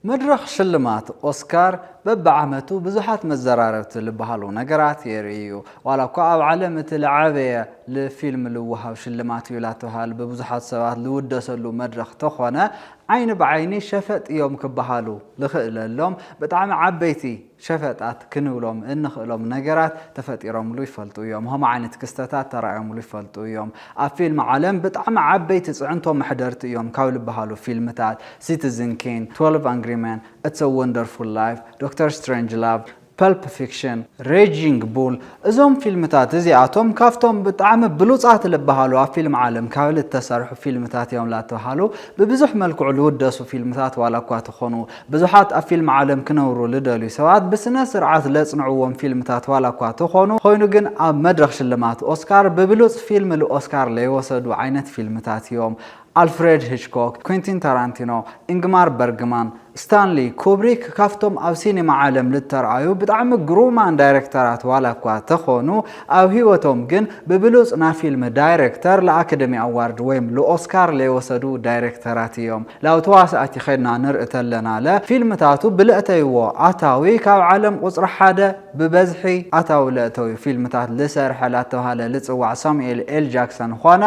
መድረኽ ሽልማት ኦስካር በብዓመቱ ብዙሓት መዘራረብቲ ልበሃሉ ነገራት የርኢ እዩ። ዋላ እኳ ኣብ ዓለም እቲ ልዓበየ ልፊልም ልወሃብ ሽልማት እዩ ላተብሃል ብብዙሓት ሰባት ልውደሰሉ መድረኽ ተኾነ ዓይኒ ብዓይኒ ሸፈጥ እዮም ክበሃሉ ልኽእለሎም ብጣዕሚ ዓበይቲ ሸፈጣት ክንብሎም እንኽእሎም ነገራት ተፈጢሮምሉ ይፈልጡ እዮም። ኸምኡ ዓይነት ክስተታት ተራእዮምሉ ይፈልጡ እዮም። ኣብ ፊልም ዓለም ብጣዕሚ ዓበይቲ ፅዕንቶ መሕደርቲ እዮም ካብ ልበሃሉ ፊልምታት ሲቲዝን ኬን፣ ትወልቭ ኣንግሪ መን፣ እትስ አ ወንደርፉል ላይፍ፣ ዶክተር ስትሬንጅላቭ፣ ፐልፕ ፊክሽን፣ ሬጂንግ ቡል እዞም ፊልምታት እዚኣቶም ካብቶም ብጣዕሚ ብሉፃት ልበሃሉ ኣብ ፊልም ዓለም ካብ ልተሰርሑ ፊልምታት እዮም ላተብሃሉ ብብዙሕ መልክዑ ልውደሱ ፊልምታት ዋላ እኳ ተኾኑ። ብዙሓት ኣብ ፊልም ዓለም ክነብሩ ልደልዩ ሰባት ብስነ ስርዓት ለጽንዕዎም ፊልምታት ዋላ እኳ ተኾኑ ኾይኑ ግን ኣብ መድረኽ ሽልማት ኦስካር ብብሉጽ ፊልም ልኦስካር ለይወሰዱ ዓይነት ፊልምታት እዮም ኣልፍሬድ ሂችኮክ ኩንቲን ታራንቲኖ ኢንግማር በርግማን ስታንሊ ኩብሪክ ካፍቶም ኣብ ሲኒማ ዓለም ልተርኣዩ ብጣዕሚ ግሩማን ዳይረክተራት ዋላ እኳ ተኾኑ ኣብ ህይወቶም ግን ብብሉጽ ና ፊልም ዳይረክተር ልኣከደሚ ኣዋርድ ወይም ልኦስካር ለይወሰዱ ዳይረክተራት እዮም። ላብ ተዋሳእቲ ከድና ንርኢ ተለና ለ ፊልምታቱ ብለእተይዎ ኣታዊ ካብ ዓለም ቁጽሪ ሓደ ብበዝሒ ኣታዊ ለእተዊ ፊልምታት ልሰርሐ ላተብሃለ ልጽዋዕ ሳሙኤል ኤል ጃክሰን ኾነ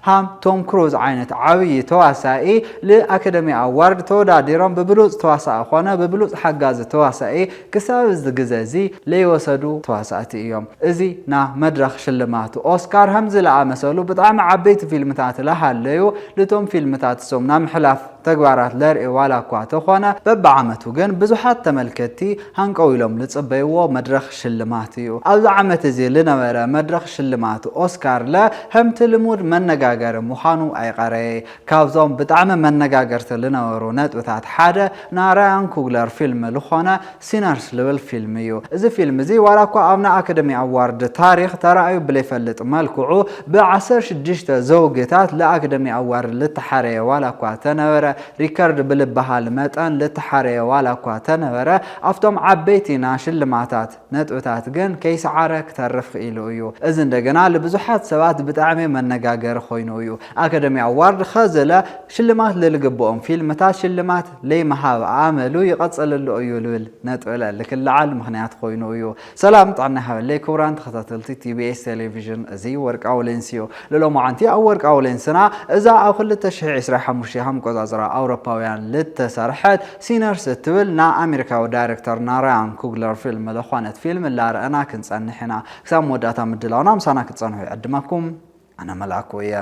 ሃም ቶም ክሩዝ ዓይነት ዓብዪ ተዋሳኢ ልኣከደሚ ኣዋርድ ተወዳዲሮም ብብሉጽ ተዋሳኢ ኾነ ብብሉጽ ሓጋዚ ተዋሳኢ ክሳብ እዚ ግዘ እዚ ለይወሰዱ ተዋሳእቲ እዮም እዚ ን መድረኽ ሽልማት ኦስካር ሀምዚ ለኣመሰሉ ብጣዕሚ ዓበይቲ ፊልምታት ለሃለዩ ልቶም ፊልምታት እሶም ናብ ምሕላፍ ተግባራት ለርኤ ዋላ እኳ ተኾነ በብዓመቱ ግን ብዙሓት ተመልከትቲ ሃንቀው ኢሎም ልፅበይዎ መድረኽ ሽልማት እዩ ኣብዚ ዓመት እዚ ልነበረ መድረኽ ሽልማት ኦስካር ለ ሀምቲ ልሙድ መነጋገሪ ምዃኑ ኣይቐረየ ካብዞም ብጣዕሚ መነጋገርቲ ልነበሩ ነጥብታት ሓደ ን ራያን ኩግለር ፊልም ልኾነ ሲነርስ ልብል ፊልም እዩ። እዚ ፊልም እዚ ዋላ እኳ ኣብ ናይ ኣከደሚ ኣዋርድ ታሪኽ ተራእዩ ብለይፈልጥ መልክዑ ብ ዓሰርተ ሽዱሽተ ዘውግታት ል ኣከደሚ ኣዋርድ ልተሓረየ ዋላ እኳ ተነበረ ሪከርድ ብልበሃል መጠን ልተሓረየ ዋላ እኳ ተነበረ ኣብቶም ዓበይቲ ና ሽልማታት ነጥብታት ግን ከይሰዓረ ክተርፍ ክኢሉ እዩ። እዚ እንደገና ልብዙሓት ሰባት ብጣዕሚ መነጋገሪ ኮይኑ እዩ። ኣከደሚ ኣዋርድ ኸዘለ ሽልማት ልልግበኦም ፊልምታት ሽልማት ለይምሃብ ኣመሉ ይቐፅልሉ እዩ ልብል ነጥብለ ልክለዓል ምኽንያት ኮይኑ እዩ። ሰላም ጥዕና ይሃበለይ ክቡራን ተኸታተልቲ TBS ቴሌቪዥን እዚ ወርቃዊ ሌንስ እዩ። ልሎማዓንቲ ኣብ ወርቃዊ ሌንስና እዛ ኣብ ክልተ ሽሕ ዒስራን ሓሙሽተን ሃምቆፃፅራ ኣውሮፓውያን ልተሰርሐት ሲነርስ እትብል ናይ ኣሜሪካዊ ዳይረክተር ናራያን ኩግለር ፊልም ልኾነት ፊልም ላረእና ክንጸንሕ ኢና። ክሳብ መወዳእታ ምድላውና ምሳና ክትጸንሑ ይዕድመኩም። ኣነ መልኣኩ እየ።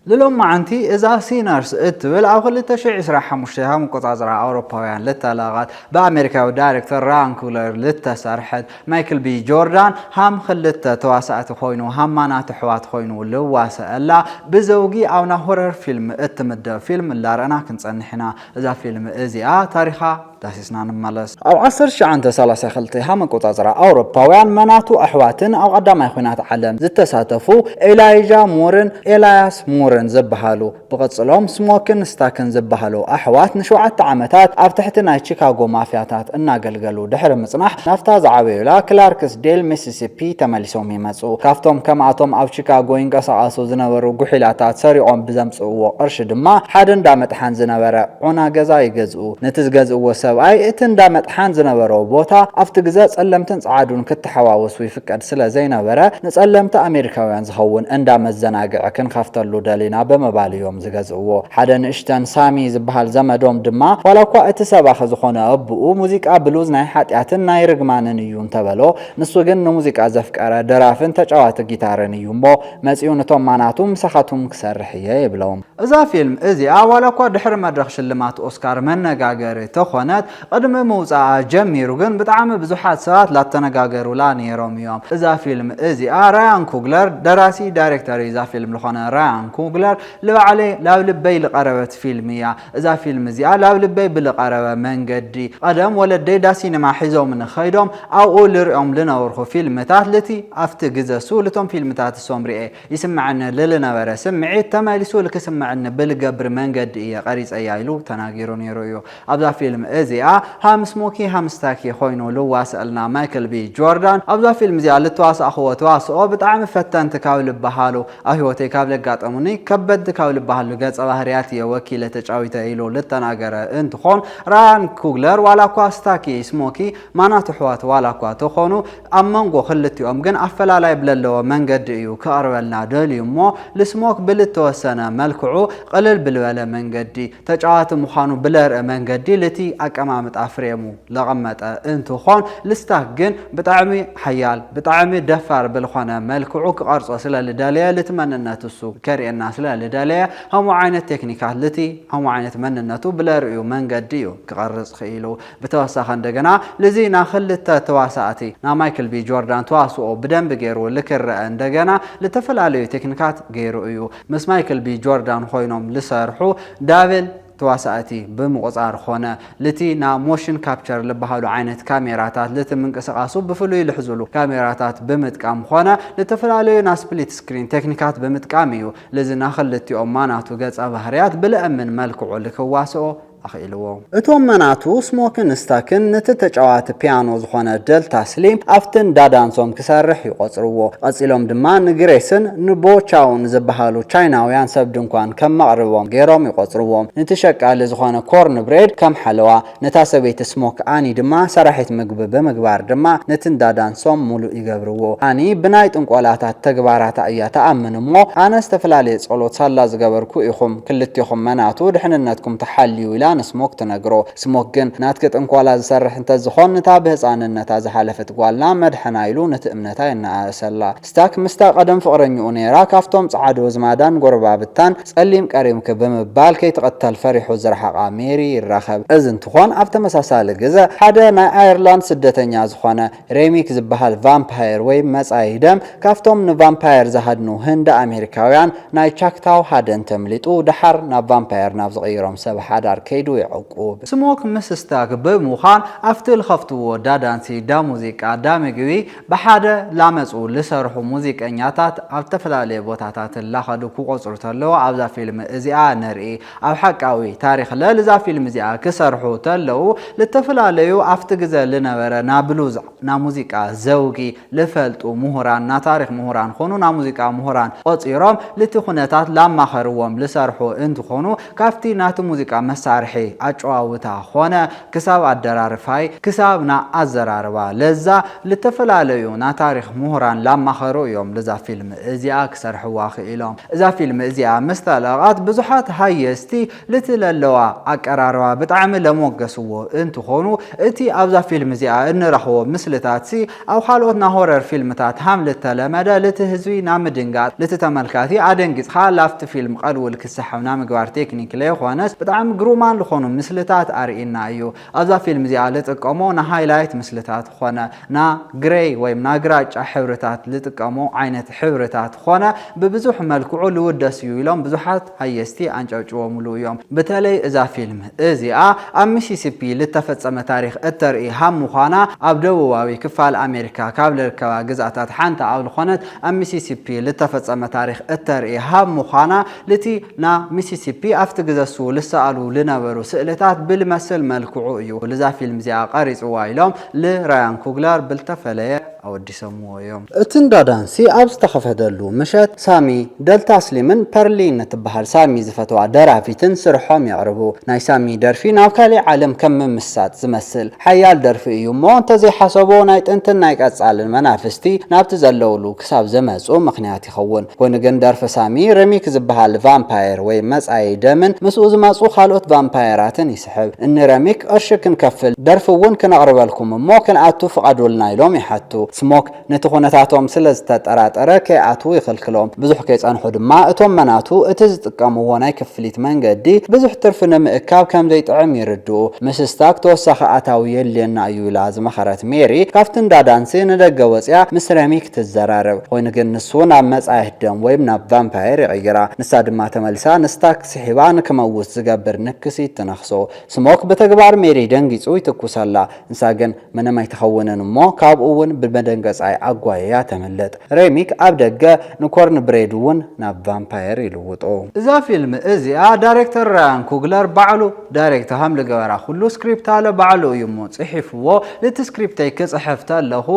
ልሎማዓንቲ እዛ ሲነርስ እትብል ኣብ ክልተ ሽሕ ዕስራን ሓሙሽተን ሃም ኣቆጻጽራ ኣውሮፓውያን ልተለቐት ብኣሜሪካዊ ዳይረክተር ራያን ኩግለር ልተሰርሐት ማይክል ቢ ጆርዳን ሃም ኽልተ ተዋሳእቲ ኾይኑ ሃማናት ኣሕዋት ኾይኑ ልዋሰኣላ ብዘውጊ ኣብ ናይ ሆረር ፊልም እትምደብ ፊልም እላረእና ክንጸንሕ ኢና እዛ ፊልም እዚኣ ታሪኻ ዳሲስና ንመለስ። ኣብ ዓሰርተ ትሽዓንተ ሰላሳ ክልተ ሃም ኣቆጻጽራ ኣውሮፓውያን መናቱ ኣሕዋትን ኣብ ቐዳማይ ኹናት ዓለም ዝተሳተፉ ኤላይዣ ሙርን ኤላያስ ሙርን ዝበሃሉ ብቕጽሎ ምስ ሞክን ስታክን ዝበሃሉ ኣሕዋት ንሸውዓተ ዓመታት ኣብ ትሕቲ ናይ ቺካጎ ማፍያታት እናገልገሉ ድሕሪ ምጽናሕ፣ ናብታ ዝዓበዩላ ክላርክስዴል፣ ሚሲሲፒ ተመሊሶም ይመጹ። ካብቶም ከምኣቶም ኣብ ቺካጎ ይንቀሳቐሱ ዝነበሩ ጉሒላታት ሰሪቖም ብዘምጽእዎ ቅርሺ ድማ ሓደ እንዳ መጥሓን ዝነበረ ዑና ገዛ ይገዝኡ። ነቲ ዝገዝእዎ ሰብኣይ እቲ እንዳ መጥሓን ዝነበሮ ቦታ ኣብቲ ግዘ ጸለምትን ጸዓዱን ክተሓዋወሱ ፍቃድ ስለ ዘይነበረ ንጸለምቲ ኣሜሪካውያን ዝኸውን እንዳ መዘናግዒ ክንኸፍተሉ ደሊና ብምባል እዮም ዝገዝእዎ። ሓደ ንእሽተን ሳሚ ዝበሃል ዘመዶም ድማ ዋላኳ እቲ ሰባኺ ዝኾነ ኣቡኡ ሙዚቃ ብሉዝ ናይ ሓጢኣትን ናይ ርግማንን እዩ እንተበሎ ንሱ ግን ንሙዚቃ ዘፍቀረ ደራፍን ተጫዋቲ ጊታርን እዩ እሞ መጺኡ ንቶም ማናቱ ምሳኻቱም ክሰርሕ እየ ይብሎም። እዛ ፊልም እዚኣ ዋላኳ ድሕሪ መድረኽ ሽልማት ኦስካር መነጋገሪ ተኾነት፣ ቕድሚ ምውጻኣ ጀሚሩ ግን ብጣዕሚ ብዙሓት ሰባት ላተነጋገሩላ ኔሮም እዮም እዛ ፊልም እዚኣ። ራያን ኩግለር ደራሲ ዳይሬክተር እዛ ፊልም ልኾነ ራያን ኩግለር ልባዕለይ ላብ ልበይ ልቐረበት ፊልም እያ። እዛ ፊልም እዚኣ ላብ ልበይ ብልቐረበ መንገዲ ቐደም ወለደይ ዳሲነማ ሒዞምኒ ኸይዶም ኣብኡ ልሪኦም ልነብርኹ ፊልምታት ልቲ ኣፍቲ ግዘ እሱ ልቶም ፊልምታት እሶም ሪኤ ይስመዐኒ ልልነበረ ስምዒት ተመሊሱ ልክስመዐኒ ብልገብር መንገዲ እየ ቀሪፀያ ኢሉ ተናጊሩ ነይሩ እዩ። ኣብዛ ፊልም እዚኣ ሃም ስሞኪ ሃም ስታኪ ኾይኑ ልዋሰኣልና ማይክል ቢ ጆርዳን። ኣብዛ ፊልም እዚኣ ልተዋሳእኹዎ ተዋስኦ ብጣዕሚ ፈተንቲ ካብ ልበሃሉ ኣብ ህይወተይ ካብ ለጋጠሙኒ ከበድቲ ካብ ልበሃሉ ገፀ ባህርያት እየ ወኪለ ተጫዊተ ኢሉ ልተናገረ እንትኾን ራያን ኩግለር ዋላ እኳ ስታኪ ስሞኪ ማናቱ ኣሕዋት ዋላ እኳ ተኾኑ ኣብ መንጎ ክልቲኦም ግን ኣፈላላይ ብለለዎ መንገዲ እዩ ክቐርበልና ደልዩ እሞ ልስሞክ ብልተወሰነ መልክዑ ቕልል ብልበለ መንገዲ ተጫዋቲ ምዃኑ ብለርእ መንገዲ ልቲ ኣቀማምጣ ፍሬሙ ለቐመጠ እንትኾን ልስታክ ግን ብጣዕሚ ሓያል ብጣዕሚ ደፋር ብልኾነ መልክዑ ክቐርጾ ስለልደለየ ልቲ መንነት እሱ ከርእየና ስለልደለየ ኸምኡ ዓይነት ቴክኒካት ልቲ ኸምኡ ዓይነት መንነቱ ብለርእዩ መንገዲ እዩ ክቐርጽ ኽኢሉ ብተወሳኺ እንደገና ንዚ ና ክልተ ተዋሳእቲ ና ማይክል ቢ ጆርዳን ተዋስኦ ብደንቢ ገይሩ ልክረኣ እንደገና ልተፈላለዩ ቴክኒካት ገይሩ እዩ ምስ ማይክል ቢ ጆርዳን ኾይኖም ልሰርሑ ዳብል ተዋሳእቲ ብምቑፃር ኾነ ልቲ ና ሞሽን ካፕቸር ልበሃሉ ዓይነት ካሜራታት ልቲ ምንቅስቓሱ ብፍሉይ ልሕዙሉ ካሜራታት ብምጥቃም ኾነ ልተፈላለዩ ና ስፕሊት ስክሪን ቴክኒካት ብምጥቃም እዩ ልዚ ና ክልቲኦም ማናቱ ገፀ ባህርያት ብልእምን መልክዑ ልክዋስኦ ኣኽኢልዎ። እቶም መናቱ ስሞክን ስታክን ነቲ ተጫዋቲ ፒያኖ ዝኾነ ደልታ ስሊም ኣብቲ እንዳ ዳንሶም ክሰርሕ ይቖጽርዎ። ቐጺሎም ድማ ንግሬስን ንቦ ቻውን ዝበሃሉ ቻይናውያን ሰብ ድንኳን ከም መቕርቦም ገይሮም ይቖጽርዎም። ንቲ ሸቃሊ ዝኾነ ኮርን ብሬድ ከም ሓለዋ፣ ነታ ሰበይቲ ስሞክ ኣኒ ድማ ሰራሒት ምግቢ ብምግባር ድማ ነቲ እንዳ ዳንሶም ሙሉእ ይገብርዎ። ኣኒ ብናይ ጥንቆላታት ተግባራታ እያ ትኣምን እሞ ኣነ ዝተፈላለየ ጸሎት ሳላ ዝገበርኩ ኢኹም ክልቴኹም መናቱ ድሕንነትኩም ተሓልዩ ኢላ ንስሞክ ትነግሮ። ስሞክ ግን ናትኪ ጥንቆላ ዝሰርሕ እንተዝኾን ንታ ብህጻንነታ ዝሓለፈት ጓልና መድሐና ኢሉ ነቲ እምነታ የነኣእሰላ። ስታክ ምስታ ቀደም ፍቕረኝኡ ነይራ ካብቶም ጸዓዱ ዝማዳን ጎረባብታን ጸሊም ቀሪምኪ ብምባል ከይትቕተል ፈሪሑ ዝረሓቓ ሜሪ ይራኸብ። እዚ እንትኾን ኣብ ተመሳሳሊ ግዘ ሓደ ናይ ኣየርላንድ ስደተኛ ዝኾነ፣ ሬሚክ ዝበሃል ቫምፓየር ወይ መጻዪ ደም ካብቶም ንቫምፓየር ዝሃድኑ ህንዲ ኣሜሪካውያን ናይ ቻክታው ሃደን ተምሊጡ ደሓር ናብ ቫምፓየር ናብ ዝቕይሮም ሰብ ሓዳር ከይዱ የዕቁብ። ስሞክ ምስታክ ብምዃን ኣብቲ ልኸፍትዎ ዳዳንሲ ዳሙዚቃ ዳምግቢ ብሓደ ላመጹ ልሰርሑ ሙዚቀኛታት ኣብ ዝተፈላለየ ቦታታት ላኸዱ ክቖጽሩ ተለዉ ኣብዛ ፊልም እዚኣ ንርኢ። ኣብ ሓቃዊ ታሪኽ ለ ልዛ ፊልም እዚኣ ክሰርሑ ተለዉ ልተፈላለዩ ኣፍቲ ግዘ ልነበረ ና ብሉዝ ና ሙዚቃ ዘውጊ ልፈልጡ ሙሁራን ና ታሪኽ ሙሁራን ኾኑ ና ሙዚቃ ሙሁራን ቆጺሮም ልቲ ኩነታት ላማኸርዎም ልሰርሑ እንትኾኑ ካፍቲ ናቲ ሙዚቃ መሳርሒ ኣጨዋውታ ኾነ ክሳብ ኣደራርፋይ ክሳብ ን ኣዘራርባ ለዛ ልተፈላለዩ ናታሪኽ ሙሁራን ላማኸሩ እዮም ልዛ ፊልም እዚኣ ክሰርሕዋ ኽኢሎም እዛ ፊልም እዚኣ ምስታለቐት ብዙሓት ሃየስቲ ልቲ ለለዋ ኣቀራርባ ብጣዕሚ ለሞገስዎ እንትኾኑ እቲ ኣብዛ ፊልም እዚኣ እንረኽቦ ምስልታትሲ ኣብ ኻልኦት ናይ ሆረር ፊልምታት ሃም ልተለመደ ልቲ ህዝቢ ናብ ምድንጋጽ ልቲ ተመልካቲ ኣደንጊጽኻ ላፍቲ ፊልም ቐልውል ክሰሐብ ናይ ምግባር ቴክኒክ ለይኾነስ ብጣዕሚ ግሩማን ልኾኑ ምስልታት ኣርእይና እዩ ኣብዛ ፊልም እዚኣ ልጥቀሞ ናይ ሃይላይት ምስልታት ኾነ ናይ ግረይ ወይም ናይ ግራጫ ሕብርታት ልጥቀሞ ዓይነት ሕብርታት ኾነ ብብዙሕ መልክዑ ልውደስ እዩ ኢሎም ብዙሓት ሃየ እስቲ ኣንጨብጭቦ ሙሉኡ እዮም። ብተለይ እዛ ፊልም እዚኣ ኣብ ሚሲሲፒ ልተፈጸመ ታሪኽ እተርኢ ሃም ምዃና ኣብ ደቡባዊ ክፋል ኣሜሪካ ካብ ልርከባ ግዝኣታት ሓንቲ ኣብ ልኾነት ኣብ ሚሲሲፒ ልተፈጸመ ታሪኽ እተርኢ ሃም ምዃና ልቲ ና ሚሲሲፒ ኣብቲ ግዘሱ ልሰኣሉ ልነበሩ ስእልታት ብልመስል መልክዑ እዩ ልዛ ፊልም እዚኣ ቀሪጽዋ ኢሎም ልራያን ኩግለር ብልተፈለየ ኣወዲሶም። ይሰምዎ እዮም። እቲ እንዳ ዳንሲ ኣብ ዝተኸፈተሉ ምሸት፣ ሳሚ፣ ደልታ ስሊምን ፐርሊ ንትበሃል ሳሚ ዝፈትዋ ደራፊትን ስርሖም የቕርቡ። ናይ ሳሚ ደርፊ ናብ ካሊእ ዓለም ከም ምምስሳጥ ዝመስል ሓያል ደርፊ እዩ እሞ እንተዘይሓሰቦ ናይ ጥንትን ናይ ቀፃልን መናፍስቲ ናብቲ ዘለውሉ ክሳብ ዝመፁ ምኽንያት ይኸውን። ኮይኑ ግን ደርፊ ሳሚ ሪሚክ ዝበሃል ቫምፓየር ወይ መፃዪ ደምን ምስኡ ዝመፁ ካልኦት ቫምፓየራትን ይስሕብ እኒ ረሚክ ቕርሺ ክንከፍል ደርፊ እውን ክነቕርበልኩም እሞ ክንኣቱ ፍቐዱልና ኢሎም ይሓቱ። ስሞክ ነቲ ኩነታቶም ስለ ዝተጠራጠረ ከይኣትዉ ይኽልክሎም። ብዙሕ ከይፀንሑ ድማ እቶም መናቱ እቲ ዝጥቀምዎ ናይ ክፍሊት መንገዲ ብዙሕ ትርፊ ንምእካብ ከም ዘይጥዕም ይርድኡ። ምስ ስታክ ተወሳኺ ኣታዊ የድልየና እዩ ኢላ ዝመኸረት ሜሪ ካብቲ እንዳ ዳንሲ ንደገ ወፂኣ ምስ ረሚክ ትዘራረብ። ኾይኑ ግን ንሱ ናብ መፃ የህደም ወይም ናብ ቫምፓየር ይቕይራ። ንሳ ድማ ተመሊሳ ንስታክ። ስሒባ ንክመውት ዝገብር ንክሲት ትነኽሶ። ስሞክ ብተግባር ሜሪ ደንጊጹ ይትኩሰላ። ንሳ ግን ምንም ኣይትኸውንን እሞ ካብኡ እውን ብመደንገጻይ ኣጓይያ ተምልጥ። ሬሚክ ኣብ ደገ ንኮርንብሬድ እውን ናብ ቫምፓየር ይልውጦ። እዛ ፊልም እዚኣ ዳሬክተር ራያን ኩግለር ባዕሉ ዳሬክት ከም ልግበራ ኩሉ ስክሪፕታለ ባዕሉ እዩ እሞ ጽሒፍዎ። ንቲ ስክሪፕተይ ክጽሕፍ ተለኹ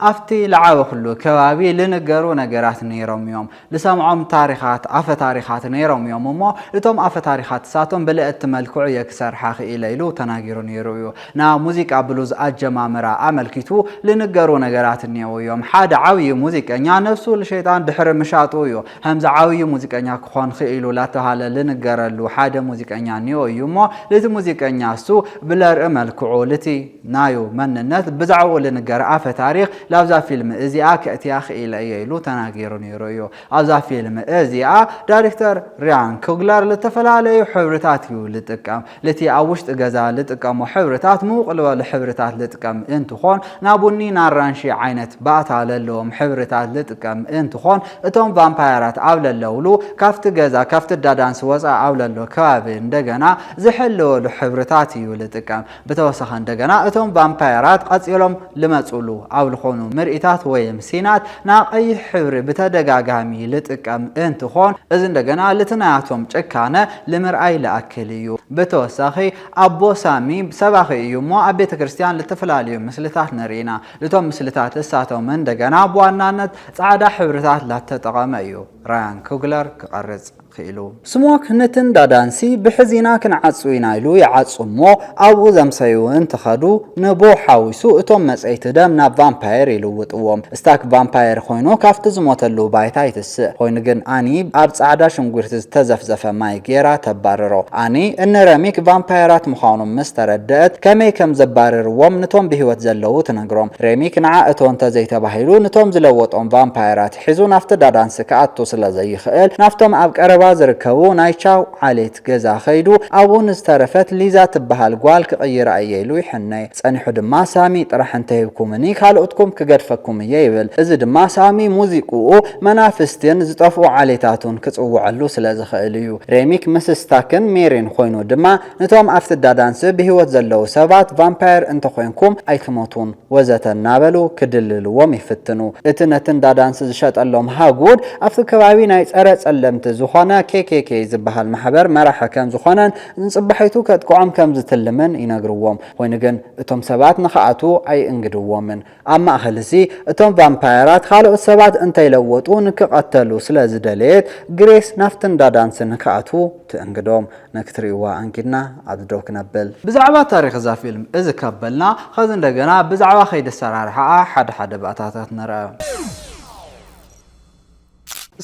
ኣብቲ ልዓበኹሉ ከባቢ ልንገሩ ነገራት ነይሮም እዮም። ልሰምዖም ታሪኻት፣ ኣፈ ታሪኻት፣ ነይሮም እዮም እሞ እቶም ኣፈ ታሪኻት እሳቶም ብልእቲ መልክዑ እየ ክሰርሓ ክኢለ ኢሉ ተናጊሩ ነይሩ እዩ። ን ሙዚቃ ብሉዝ ኣጀማምራ ኣመልኪቱ ልንገሩ ነገራት እኔዉ እዮም። ሓደ ዓብዪ ሙዚቀኛ ነብሱ ልሸይጣን ድሕሪ ምሻጡ እዩ ኸምዚ ዓብዪ ሙዚቀኛ ክኾን ኽኢሉ ላተብሃለ ልንገረሉ ሓደ ሙዚቀኛ እኔዉ እዩ እሞ ልቲ ሙዚቀኛ እሱ ብለርኢ መልክዑ ልቲ ናዩ መንነት ብዛዕብኡ ልንገር ኣፈ ታሪኽ ላብዛ ፊልም እዚኣ ከእትያ ክኢለ እየ ኢሉ ተናጊሩ ነይሩ እዩ። ኣብዛ ፊልም እዚኣ ዳሪክተር ርያን ኩግለር ልተፈላለዩ ሕብርታት እዩ ልጥቀም። ልቲ ኣብ ውሽጢ ገዛ ልጥቀሞ ሕብርታት ምውቅ ልበሉ ሕብርታት ልጥቀም እንትኾን ና ቡኒ ና ኣራንሺ ዓይነት ባእታ ለለዎም ሕብርታት ልጥቀም እንትኾን እቶም ቫምፓየራት ኣብ ለለውሉ ካፍቲ ገዛ ካፍቲ ዳዳንስ ወፃእ ኣብ ለሎ ከባቢ እንደገና ዝሕልወሉ ሕብርታት እዩ ልጥቀም። ብተወሳኺ እንደገና እቶም ቫምፓየራት ቐጺሎም ልመጹሉ ኣብ ልኾኑ ምርኢታት ወይም ሲናት ና ቐይሕ ሕብሪ ብተደጋጋሚ ልጥቀም እንትኾን እዚ እንደገና ልቲ ናያቶም ጭካነ ልምርኣይ ልኣክል እዩ። ብተወሳኺ ኣቦ ሳሚ ሰባኺ እዩ እሞ ኣብ ቤተ ክርስትያን ልተፈላለዩ ምስልታት ንርኢ ኢና ልቶም ምስልታት እሳቶም እንደገና ብዋናነት ጻዕዳ ሕብርታት ላተጠቐመ እዩ ራያን ኩግለር ክቐርጽ ክኢሉ። ስሞክ ንትን ዳዳንሲ ብሕዚና ክንዓጹ ኢና ኢሉ ይዓጹ እሞ ኣብኡ ዘምሰዩ እንትኸዱ ንቦ ሓዊሱ እቶም መጸይቲ ደም ናብ ቫምፓየር ይልውጥዎም እስታክ ቫምፓየር ኾይኑ ካፍቲ ዝሞተሉ ባይታ ይትስእ ኾይኑ ግን ኣኒ ኣብ ጻዕዳ ሽንጉርቲ ዝተዘፍዘፈ ማይ ጌራ ተባርሮ ኣኒ እኒ ረሚክ ቫምፓየራት ምዃኖም ምስ ተረደእት ከመይ ከም ዘባርርዎም ንቶም ብሂወት ዘለዉ ትነግሮም ሬሚክ ንዓ እቶ እንተዘይተባሂሉ ንቶም ዝለወጦም ቫምፓየራት ሒዙ ናብቲ ዳዳንሲ ክኣቱ ስለ ዘይኽእል፣ ናብቶም ኣብ ቀረባ ዝርከቡ ናይ ቻው ዓሌት ገዛ ከይዱ ኣብኡ ንዝተረፈት ሊዛ ትበሃል ጓል ክቕይራ እየ ኢሉ ይሕነ። ጸኒሑ ድማ ሳሚ ጥራሕ እንተሂብኩምኒ ካልኦትኩም ክገድፈኩም እየ ይብል። እዚ ድማ ሳሚ ሙዚቅኡ መናፍስቲን ዝጠፍኡ ዓሌታቱን ክጽውዐሉ ስለ ዝኽእል እዩ። ሬሚክ ምስ ስታክን ሜሪን ኮይኑ ድማ ነቶም ኣብ ፍዳ ዳንስ ብህይወት ዘለዉ ሰባት ቫምፓየር እንተ ኾይንኩም ኣይትሞቱን ወዘተ እናበሉ ክድልልዎም ይፍትኑ። እቲ ነቲ እንዳ ዳንስ ዝሸጠሎም ሃጉድ ኣብቲ ከባቢ ናይ ጸረ ጸለምቲ ዝኾነ KKK ዝበሃል ማሕበር መራሒ ከም ዝኾነን ንጽባሒቱ ከጥቅዖም ከም ዝትልምን ይነግርዎም። ኾይኑ ግን እቶም ሰባት ንኽኣትዉ ኣይእንግድዎምን። ኣብ ማእከል'ዚ፣ እቶም ቫምፓየራት ኻልኦት ሰባት እንተ ለወጡ ንኪቐተሉ ስለ ዝደለየት፣ ግሬስ ናብቲ እንዳ ዳንሲ ንኪኣትዉ ትእንግዶም። ንኪትርእይዋ ኣንጊድና ኣብዚ ደው ክነብል። ብዛዕባ ታሪኽ እዛ ፊልም እዚ ካብ በልና፣ ኸዚ እንደገና ብዛዕባ ኸይዲ ኣሰራርሓኣ ሓደ ሓደ ባእታታት ንርኣ።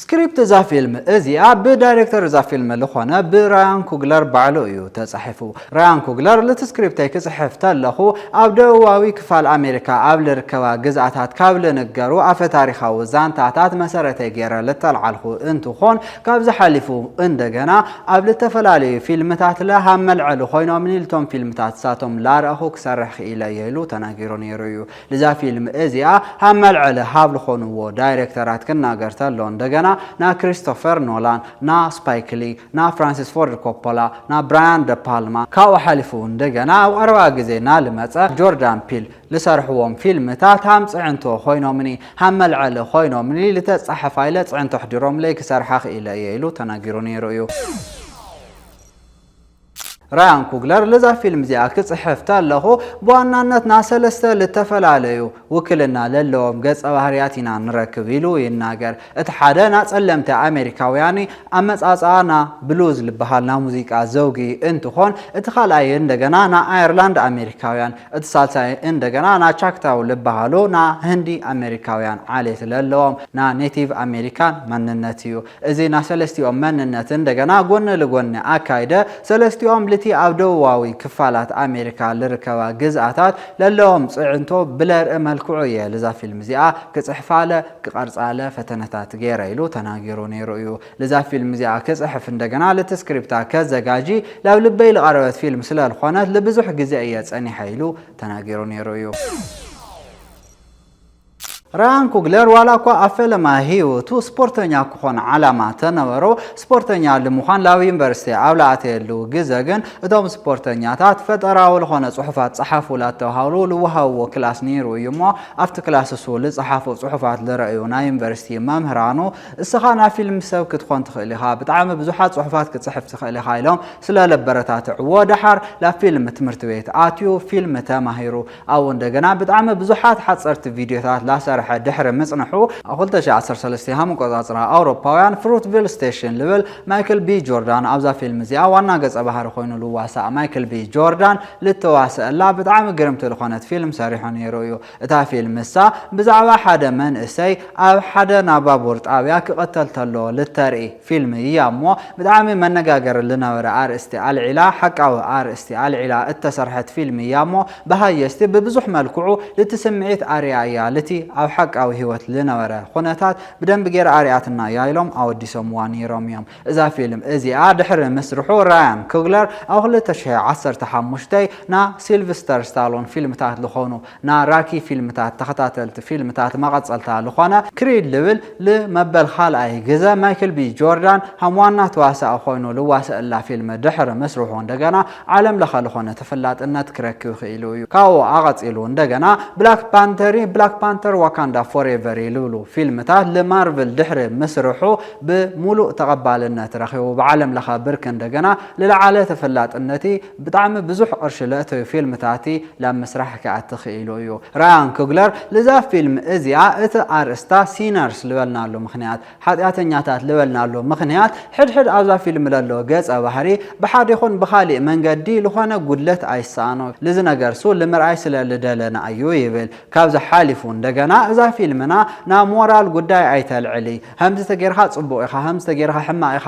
ስክሪፕት እዛ ፊልም እዚኣ ብዳይሬክተር እዛ ፊልም ልኾነ ብራያን ኩግለር ባዕሉ እዩ ተጻሒፉ። ራያን ኩግለር ልቲ ስክሪፕተይ ክጽሕፍ ተለኹ ኣብ ደቡባዊ ክፋል ኣሜሪካ ኣብ ልርከባ ግዝኣታት ካብ ልንገሩ ኣፈታሪኻዊ ዛንታታት መሰረተይ ገይረ ልተልዓልኹ እንትኾን ካብዚ ሓሊፉ እንደገና ኣብ ልተፈላለዩ ፊልምታት ልሃብ መልዐሊ ኮይኖምኒ ልቶም ፊልምታት ንሳቶም ላረእኹ ክሰርሕ ክኢለ እየ ኢሉ ተናጊሩ ነይሩ እዩ። ንዛ ፊልም እዚኣ ሃብ መልዐሊ ሃብ ልኾንዎ ዳይረክተራት ክናገር ተሎ እንደገና ና ክሪስቶፈር ኖላን ና ስፓይክ ሊ ና ፍራንሲስ ፎርድ ኮፖላ ና ብራያን ደ ፓልማ ካብኡ ሓሊፉ እንደገና ኣብ ቐረባ ግዜ ና ልመጸ ጆርዳን ፒል ልሰርሕዎም ፊልምታት ሃም ጽዕንቶ ኾይኖምኒ ሃም መልዐሊ ኾይኖምኒ ልተጻሕፋ ኢለ ጽዕንቶ ኣሕዲሮምለይ ክሰርሓ ኽኢለ እየ ኢሉ ተናጊሩ ነይሩ እዩ። ራያን ኩግለር ልዛ ፊልም ዚኣ ክጽሕፍ ተለኹ ብዋናነት ናሰለስተ ልተፈላለዩ ውክልና ለለዎም ገጸ ባህርያት ኢና ንረክብ ኢሉ ይናገር። እቲ ሓደ ናጸለምቲ ኣሜሪካውያንዩ ኣመጻጽኣ ና ብሉዝ ልበሃል ናሙዚቃ ዘውጊ እንትኾን እቲ ካልኣይ እንደገና ናኣየርላንድ ኣሜሪካውያን እቲ ሳልሳይ እንደገና ናቻክታው ልበሃሉ ናህንዲ ኣሜሪካውያን ዓሌት ለለዎም ናኔቲቭ ኣሜሪካን መንነትዩ። እዚ ናይ ሰለስቲኦም መንነት እንደገና ጎኒ ልጎኒ ኣካይደ፣ ሰለስቲኦም ልቲ ኣብ ደቡባዊ ክፋላት ኣሜሪካ ልርከባ ግዝኣታት ለለዎም ጽዕንቶ ብለርኢ መልክዑ እየ ልዛ ፊልም እዚኣ ክጽሕፋለ ክቐርጻለ ፈተነታት ገይረ ኢሉ ተናጊሩ ነይሩ እዩ። ልዛ ፊልም እዚኣ ክጽሕፍ እንደገና ልቲ ስክሪፕታ ከዘጋጂ ላብ ልበይ ልቐረበት ፊልም ስለልኾነት ልብዙሕ ግዜ እየ ጸኒሐ ኢሉ ተናጊሩ ነይሩ እዩ። ራያን ኩግለር ዋላኳ ኣብ ፈለማ ህይወቱ ስፖርተኛ ክኾን ዓላማ ተነበሮ፣ ስፖርተኛ ልምዃን ላብ ዩኒቨርሲቲ ኣብ ልኣተየሉ ግዘ ግን እቶም ስፖርተኛታት ፈጠራዊ ልኾነ ፅሑፋት ፀሓፉ ላተብሃሉ ልወሃብዎ ክላስ ነይሩ እዩ እሞ ኣብቲ ክላስ እሱ ልፀሓፎ ፅሑፋት ልረእዩ ናይ ዩኒቨርሲቲ መምህራኑ እስኻ ናይ ፊልም ሰብ ክትኾን ትኽእል ኢኻ ብጣዕሚ ብዙሓት ፅሑፋት ክትፅሕፍ ትኽእል ኢኻ ኢሎም ስለለበረታትዕዎ ደሓር ላብ ፊልም ትምህርት ቤት ኣትዩ ፊልም ተማሂሩ ኣብኡ እንደገና ብጣዕሚ ብዙሓት ሓጸርቲ ቪድዮታት ላሰርሐ ድሕሪ ምጽንሑ፣ ኣብ ክልተ ሽሕ ዓሰርተ ሰለስተ ሃም ኣቆጻጽራ ኣውሮፓውያን፣ ፍሩትቪል ስቴሽን ልብል ማይክል ቢ ጆርዳን ኣብዛ ፊልም እዚኣ ዋና ገጸ ባህሪ ኮይኑ ልዋሳእ ማይክል ቢ ጆርዳን ልተዋሰኣላ ብጣዕሚ ግርምቲ ልኾነት ፊልም ሰሪሑ ነይሩ እዩ። እታ ፊልም ንሳ ብዛዕባ ሓደ መንእሰይ ኣብ ሓደ ናባቡር ጣብያ ክቅተል ተሎ ልተርኢ ፊልም እያ እሞ ብጣዕሚ መነጋገሪ ልነበረ ኣርእስቲ ኣልዒላ ሓቃዊ ኣርእስቲ ኣልዒላ እተሰርሐት ፊልም እያ እሞ ብሃየስቲ ብብዙሕ መልክዑ ልቲ ስምዒት ኣርእያ እያ ልቲ ኣብ ሓቃዊ ሂወት ልነበረ ኹነታት ብደንቢ ጌራ ኣርእያትና እያ ኢሎም ኣወዲሶምዋ ነይሮም እዮም እዛ ፊልም እዚኣ ድሕሪ ምስርሑ ራያን ኩግለር ኣብ ክልተ ሽሕ ዓሰርተ ሓሙሽተ ን ሲልቭስተር ስታሎን ፊልምታት ልኾኑ ን ራኪ ፊልምታት ተከታተልቲ ፊልምታት መቀጸልታ ልኮነ ክሪድ ልብል ል መበል ካልኣይ ግዘ ማይክል ቢ ጆርዳን ሃም ዋና ተዋሳኢ ኮይኑ ልዋሰእላ ፊልም ድሕሪ ምስርሑ እንደገና ዓለም ለኸ ልኮነ ተፈላጥነት ክረክብ ኪኢሉ እዩ ካብኡ ኣቀጺሉ እንደገና ብላክ ፓንተሪ ብላክ ፓንተር ዋካንዳ ፎሬቨሪ ልብሉ ፊልምታት ል ማርቭል ድሕሪ ምስርሑ ብ ሙሉእ ተቀባልነት ረኪቡ ብዓለም ለኸ ብርኪ እንደገና ልለዓለ ተፈላጥነቲ ብጣዕሚ ብዙሕ ቅርሺ ለእተዩ ፊልምታቲ ላብ ምስራሕ ክኣቲ ክኢሉ እዩ። ራያን ኩግለር ልዛ ፊልም እዚኣ እቲ ኣርእስታ ሲነርስ ልበልናሉ ምኽንያት፣ ሓጢኣተኛታት ልበልናሉ ምኽንያት፣ ሕድሕድ ኣብዛ ፊልም ለሎ ገጸ ባህሪ ብሓድ ይኹን ብኻሊእ መንገዲ ልኾነ ጉድለት ኣይሰኣኖ ልዚ ነገርሱ ልምርኣይ ስለ ልደለና እዩ ይብል። ካብዚ ሓሊፉ እንደገና እዛ ፊልምና ናብ ሞራል ጉዳይ ኣይተልዕሊ፣ ሀምዚ ተገይርኻ ጽቡቕ ኢኻ፣ ሀምዚ ተገይርኻ ሕማቕ ኢኻ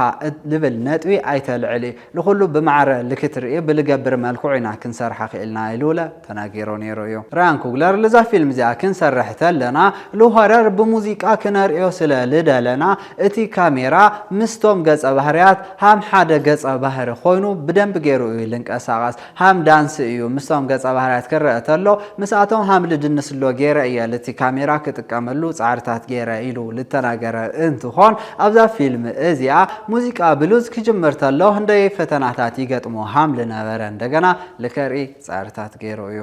ልብል ነጥቢ ኣይተልዕሊ፣ ንኹሉ ብማዕረ ልክት ርእዩ ብልገብር መልክዑ ኢና ክንሰርሓ ክኢልና ኢሉለ ተናጊሮ ነይሩ እዩ። ራያን ኩግለር ልዛ ፊልም እዚኣ ክንሰርሕ ተለና ልሆረር ብሙዚቃ ክነርእዮ ስለ ልደለና እቲ ካሜራ ምስቶም ገጸ ባህርያት ሃም ሓደ ገጸ ባህሪ ኮይኑ ብደንቢ ገይሩ እዩ ልንቀሳቐስ። ሃም ዳንሲ እዩ ምስቶም ገጸ ባህርያት ክረኣ ተሎ ምስኣቶም ሃም ልድንስሎ ጌረ እየ ልቲ ካሜራ ክጥቀመሉ ጻዕርታት ጌረ ኢሉ ልተናገረ እንትኾን ኣብዛ ፊልም እዚኣ ሙዚቃ ብሉዝ ክጅምር ተሎ ህንደየይ ፈተናታት ይገጥሞ ሃም ልነበረ እንደገና ልከርኢ ጻዕርታት ጌሩ እዩ።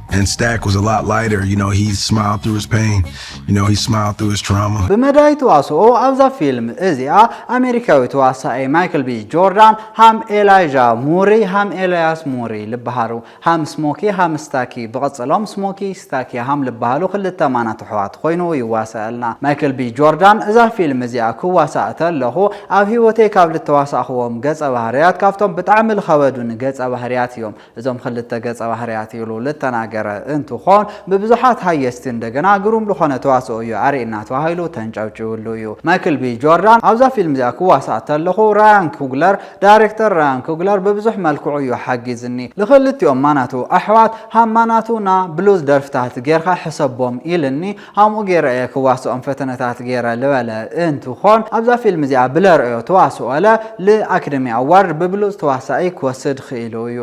And Stack was a lot lighter, you know, he smiled through his pain, you know, he smiled through his trauma. ብመዳይ ተዋስኦ ኣብዛ ፊልም እዚኣ ኣሜሪካዊ ተዋሳኢ ማይክል ቢ ጆርዳን ሃም ኤላይዣ ሙሪ ሃም ኤልያስ ሙሪ ልበሃሉ ሃም ስሞኪ ሃም ስታኪ ብቕጽሎም ስሞኪ ስታኪ ሃም ልበሃሉ ክልተ ማናት ኣሕዋት ኮይኑ ይዋሳኣልና ማይክል ቢ ጆርዳን እዛ ፊልም እዚኣ ክዋሳእ ተለኹ ኣብ ህይወተይ ካብ ልተዋሳእኽዎም ገጸ ባህርያት ካብቶም ብጣዕሚ ልኸበዱኒ ገጸ ባህርያት እዮም እዞም ክልተ ገጸ ባህርያት ኢሉ ልተናገረ እንትኾን ብብዙሓት ሃየስቲ እንደገና ግሩም ልኾነ ተዋስኦ እዩ ኣሪእና ተባሂሉ ተንጨብጭብሉ እዩ። ማይክል ቢ ጆርዳን ኣብዛ ፊልም እዚኣ ክዋሳእ ተለኹ ራያን ኩግለር ዳይሬክተር ራያን ኩግለር ብብዙሕ መልክዑ እዩ ሓጊዝኒ ልኽልቲኦም ማናቱ ኣሕዋት ሃማናቱ ና ብሉዝ ደርፍታት ጌርካ ሕሰቦም ኢልኒ ሀምኡ ገይረ እየ ክዋስኦም ፈተነታት ገይረ ልበለ እንትኾን ኣብዛ ፊልም እዚኣ ብለርእዮ ተዋስኦለ ል ኣክደሚ ኣዋርድ ብብሉፅ ተዋሳኢ ክወስድ ኽኢሉ እዩ።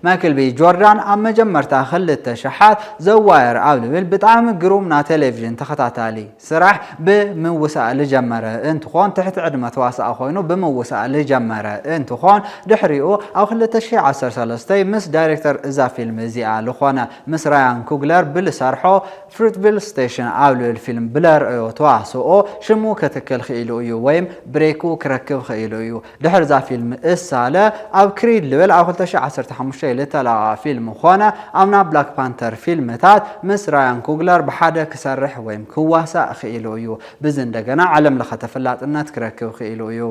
ማይክል ቢ ጆርዳን ኣብ መጀመርታ ክልተ ሸሓት ዘ ዋየር ኣብ ልብል ብጣዕሚ ግሩም ናተሌቭዥን ተኸታታሊ፣ ስራሕ ብምውሳእ ልጀመረ እንትኾን ትሕቲ ዕድመ ተዋሳኢ ኮይኑ ብምውሳእ ልጀመረ እንትኾን ድሕሪኡ ኣብ ክልተ ሽሕ ዓሰርተ ሰለስተ ምስ ዳይሬክተር እዛ ፊልም እዚኣ ልኾነ ምስ ራያን ኩግለር ብልሰርሖ Fruitville Station ኣብ ልብል ፊልም ብለርኣዮ ተዋስኦ ሽሙ ከትክል ኽኢሉ እዩ ወይም ብሬኩ ክረክብ ኽኢሉ እዩ ድሕሪ እዛ ፊልም እሳለ ኣብ ክሪድ ልብል ኣብ ክልተ ሽሕ ዓሰርተ ሓሙሽተ ልተለቀቀ ፊልም ኮነ ኣብ ናብ ብላክ ፓንተር ፊልምታት ምስ ራያን ኩግለር ብሓደ ክሰርሕ ወይም ክዋሳእ ክኢሉ እዩ። ብዚ እንደገና ዓለም ለኸ ተፈላጥነት ክረክብ ክኢሉ እዩ።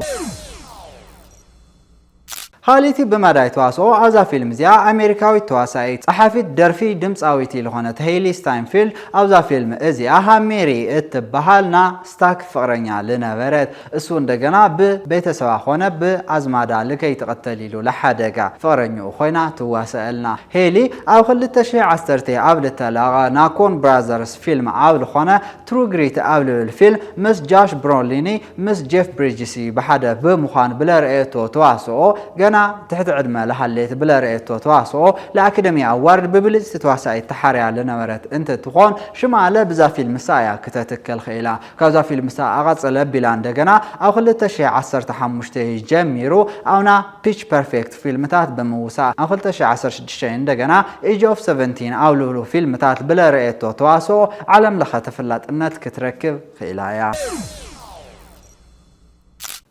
ኻሊእቲ ብመዳይ ተዋስኦ ኣብዛ ፊልም እዚኣ ኣሜሪካዊት ተዋሳኢት፣ ጸሓፊት ደርፊ፣ ድምጻዊቲ ልኾነት ሄይሊ ስታይንፊልድ ኣብዛ ፊልም እዚኣ ሃ ሜሪ እትበሃል ና ስታክ ፍቅረኛ ልነበረት እሱ እንደገና ብ ቤተሰባ ኮነ ብ ኣዝማዳ ልከይትቅተል ኢሉ ልሓደጋ ፍቅረኝኡ ኮይና ትዋሰኣልና ሄሊ ኣብ ክልተ ሽሕ ዓሰርተ ኣብ ልተለቀቀ ናኮን ብራዘርስ ፊልም ኣብ ልኮነ ትሩ ግሪት ኣብ ልብል ፊልም ምስ ጃሽ ብሮሊኒ ምስ ጄፍ ብሪጅሲ ብሓደ ብ ምኳን ብለረኤቶ ተዋስኦ ገና ትሕቲ ዕድመ ልሃሌት ብለረኤቶ ተዋስኦ ልኣክደሚ ኣዋርድ ብ ብልጽቲ ተዋሳኢት ተሓርያ ልነበረት እንትትኮን ሽማለ ብዛ ፊልምሳ እያ ክተትከል ክኢላ ካብዛ ፊልም ዝተኣቓ ጸለብ ቢላ እንደገና ኣብ ክልተ ሽሕ ዓሰርተ ሓሙሽተ ጀሚሩ ኣብና ፒች ፐርፌክት ፊልምታት ብምውሳእ ኣብ ክልተ ሽሕ ዓሰርተ ሽዱሽተ እንደገና ኤጅ ኦፍ ሰቨንቲን ኣብ ልብሉ ፊልምታት ብለረኤቶ ተዋስኦ ዓለም ለኸ ተፈላጥነት ክትረክብ ክኢላ እያ።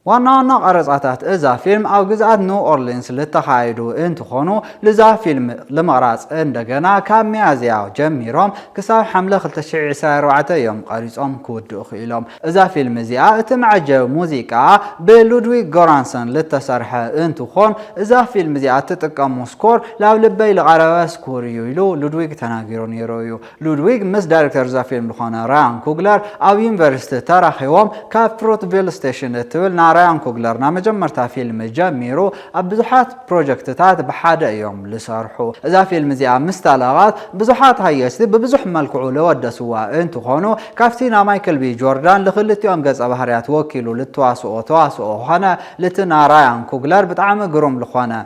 ዋና ዋና ቀረፃታት እዛ ፊልም ኣብ ግዝኣት ኒው ኦርሊንስ ልተኻየዱ እንትኾኑ ልዛ ፊልም ልምቕራፅ እንደገና ካብ ሚያዝያ ጀሚሮም ክሳብ ሓምለ ክልተ ሽሕ ዕስራን ኣርባዕተን እዮም ቐሪፆም ክውድኡ ክኢሎም። እዛ ፊልም እዚኣ እቲ መዐጀቢ ሙዚቃኣ ብሉድዊግ ጎራንሰን ልተሰርሐ እንትኾን እዛ ፊልም እዚኣ እትጥቀሞ ስኮር ላብ ልበይ ልቐረበ ስኮር እዩ ኢሉ ሉድዊግ ተናጊሩ ነይሩ እዩ። ሉድዊግ ምስ ዳይረክተር'ዛ ፊልም ዝኾነ ራያን ኩግለር ኣብ ዩኒቨርሲቲ ተራኺቦም፣ ካብ ፍሩትቪል ስቴሽን እትብል ናይ ራያን ኩግለር ናይ መጀመርታ ፊልም ጀሚሩ ኣብ ብዙሓት ፕሮጀክትታት ብሓደ እዮም ዝሰርሑ። እዛ ፊልም እዚኣ ምስ ተለቐት ብዙሓት ሃየስቲ ብብዙሕ መልክዑ ዘወደስዋ እንትኾኑ፣ ካብቲ ናይ ማይክል ቢ ጆርዳን ዝክልቲኦም ገጸ ባህርያት ወኪሉ ዝተዋስኦ ተዋስኦ ኾነ ልቲ ናይ ራያን ኩግለር ብጣዕሚ ግሩም ዝኾነ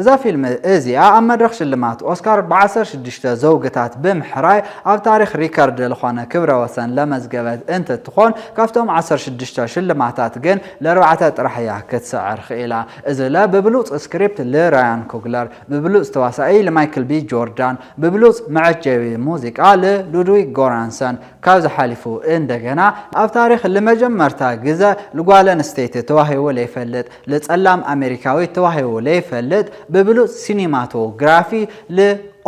እዛ ፊልም እዚኣ ኣብ መድረኽ ሽልማት ኦስካር ብዓሰርተ ሽዱሽተ ዘውግታት ብምሕራይ ኣብ ታሪኽ ሪከርድ ልኾነ ክብረ ወሰን ለመዝገበት እንትትኾን ካብቶም ዓሰርተ ሽዱሽተ ሽልማታት ግን ለርባዕተ ጥራሕ እያ ክትስዕር ኽኢላ እዚ ለ ብብሉፅ ስክሪፕት ልራያን ኩግለር ብብሉፅ ተዋሳኢ ልማይክል ቢ ጆርዳን ብብሉፅ መዐጀቢ ሙዚቃ ልሉድዊግ ጎራንሰን ካብዚ ሓሊፉ እንደገና ኣብ ታሪኽ ልመጀመርታ ግዘ ልጓለንስተይቲ ተዋሂቡ ለይፈልጥ ልጸላም ኣመሪካዊት ተዋሂቡ ለይፈልጥ ብብሉጽ ሲኒማቶግራፊ ል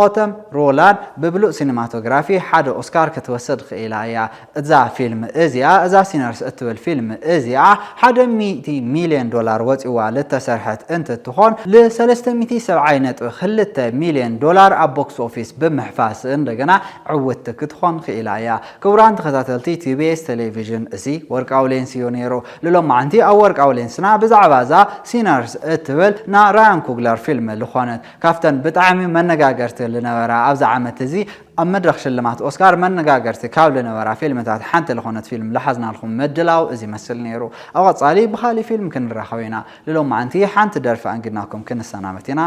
ኦተም ሮላን ብብሉጽ ሲኒማቶግራፊ ሓደ ኦስካር ክትወስድ ኽኢላ እያ እዛ ፊልም እዚኣ እዛ ሲነርስ እትብል ፊልም እዚኣ ሓደ ሚእቲ ሚልዮን ዶላር ወጺዋ ልተሰርሐት እንትትኾን ል ሰለስተ ሚእቲ ሰብዓይ ነጥቢ ክልተ ሚልዮን ዶላር ኣብ ቦክስ ኦፊስ ብምሕፋስ እንደገና ዕውትቲ ክትኾን ኽኢላ እያ ክቡራን ተኸታተልቲ ቲቢኤስ ቴሌቪዥን እዚ ወርቃዊ ሌንስ እዩ ኔሩ ልሎማዓንቲ ኣብ ወርቃዊ ሌንስና ብዛዕባ እዛ Sinners እትብል ና ራያን ኩግለር ፊልም ልኾነት ካብተን ብጣዕሚ መነጋገርቲ ልነበራ ኣብዚ ዓመት እዚ ኣብ መድረኽ ሽልማት ኦስካር መነጋገርቲ ካብ ልነበራ ፊልምታት ሓንቲ ልኾነት ፊልም ልሓዝናልኹም ምድላው እዚ ይመስል ነይሩ ኣብ ቐፃሊ ብኻሊእ ፊልም ክንራኸብ ኢና ልሎማዓንቲ ሓንቲ ደርፊ ኣንጊድናኩም ክንሰናበት ኢና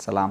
ሰላም።